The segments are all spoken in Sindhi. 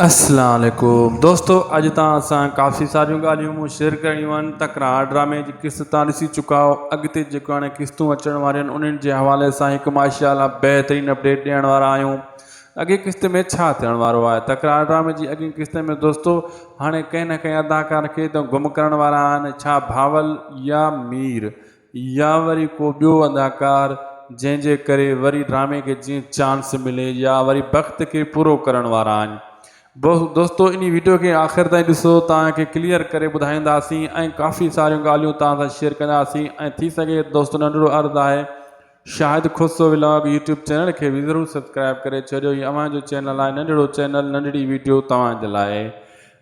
السلام عليڪم دوستو اڄ توهان سان ڪافي ساريون ڳالهيون مون شيئر ڪرڻيون آهن تڪرار ڊرامي جي قسط توهان ڏسي چڪا آهو اڳتي جيڪو هاڻي قسطون اچڻ واريون آهن انهن جي حوالي سان هڪ ماشاء الله بهترين اپڊيٽ ڏيڻ وارا آهيون اڳين قسط ۾ ڇا ٿيڻ وارو آهي تڪرار ڊرامي جي اڳين قسط ۾ دوستو هاڻي ڪنهن نه ڪنهن اداڪار کي ته گم ڪرڻ وارا آهن ڇا بهاول يا مير يا وري ڪو ٻيو اداڪار جنهن جي ڪري وري ڊرامي کي جيئن چانس ملي يا وري بخت کي پورو ڪرڻ وارا آهن دوستو انهي ويڊيو کي آخر تائين ڏسو توهان کي ڪليئر ڪري ٻڌائينداسين ۽ ڪافي ساريون ڳالهيون توهان سان شيئر ڪنداسين ۽ ٿي سگهي دوستو ننڍڙو عرض آهي Shahid Khusro vlog YouTube channel کي به ضرور سبسڪرائب ڪري ڇڏيو هي اوهان جو چينل آهي ننڍڙو چينل ننڍڙي ويڊيو توهان جي لاء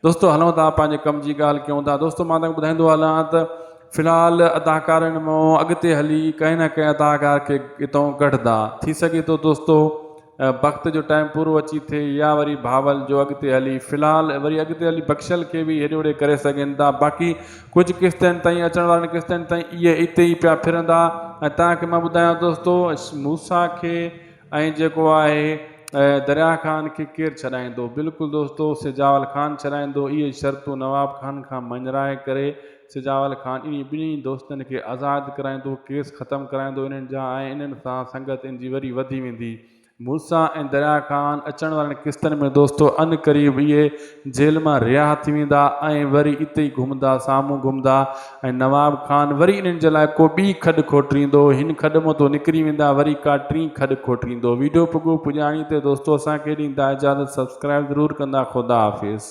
دوستو هلون ٿا پنهنجي ڪم جي ڳالهه ڪيون ٿا دوستو مان تنگ ٻڌائيندو هلان ته في الحال اداڪارن مون اڳتي هلي ڪنهن نه ڪنهن اداڪار کي اتون ڪڍدا ٿي سگهي ٿو دوستو بخت جو ٽائيم پورو اچي ٿئي يا وري بهاول جو اڳتي هلي في الحال وري اڳتي هلي بخشل کي به هيڏي هوڏي ڪري سگهن ٿا باقي ڪجهه قسطن تائين اچڻ وارن قسطن تائين اهي اتي ئي پيا ڦرندا ۽ تنهنکي مان ٻڌايان دوستو موسا کي ۽ جيڪو آهي دريا خان کي ڪير ڇڏائيندو بلڪل دوستو سجاول خان ڇڏائيندو اهي شرطون نواب خان کان مڃرائي ڪري سجاول خان انهن ٻنهي دوستن کي آزاد ڪرائيندو، ڪيس ختم ڪرائيندو انهن جا ۽ انهن سان سنگت ان جي وري وڌي ويندي. موسيٰ ۽ دريا خان اچڻ وارين قسطن ۾ دوستو ان قريب اهي جيل مان رها ٿي ويندا ۽ وري اتي ئي گهمندا سامهون گهمندا ۽ نواب خان وري انهن جي لاء ڪو ٻي کڏ کوٽريندو هن کڏ مان تو نڪري ويندا وري ڪا ٽين کڏ کوٽريندو ويڊيو پڳو پڄاڻي تي دوستو اسان کي ڏيندا اجازت سبسڪرائب ضرور ڪندا خدا حافظ.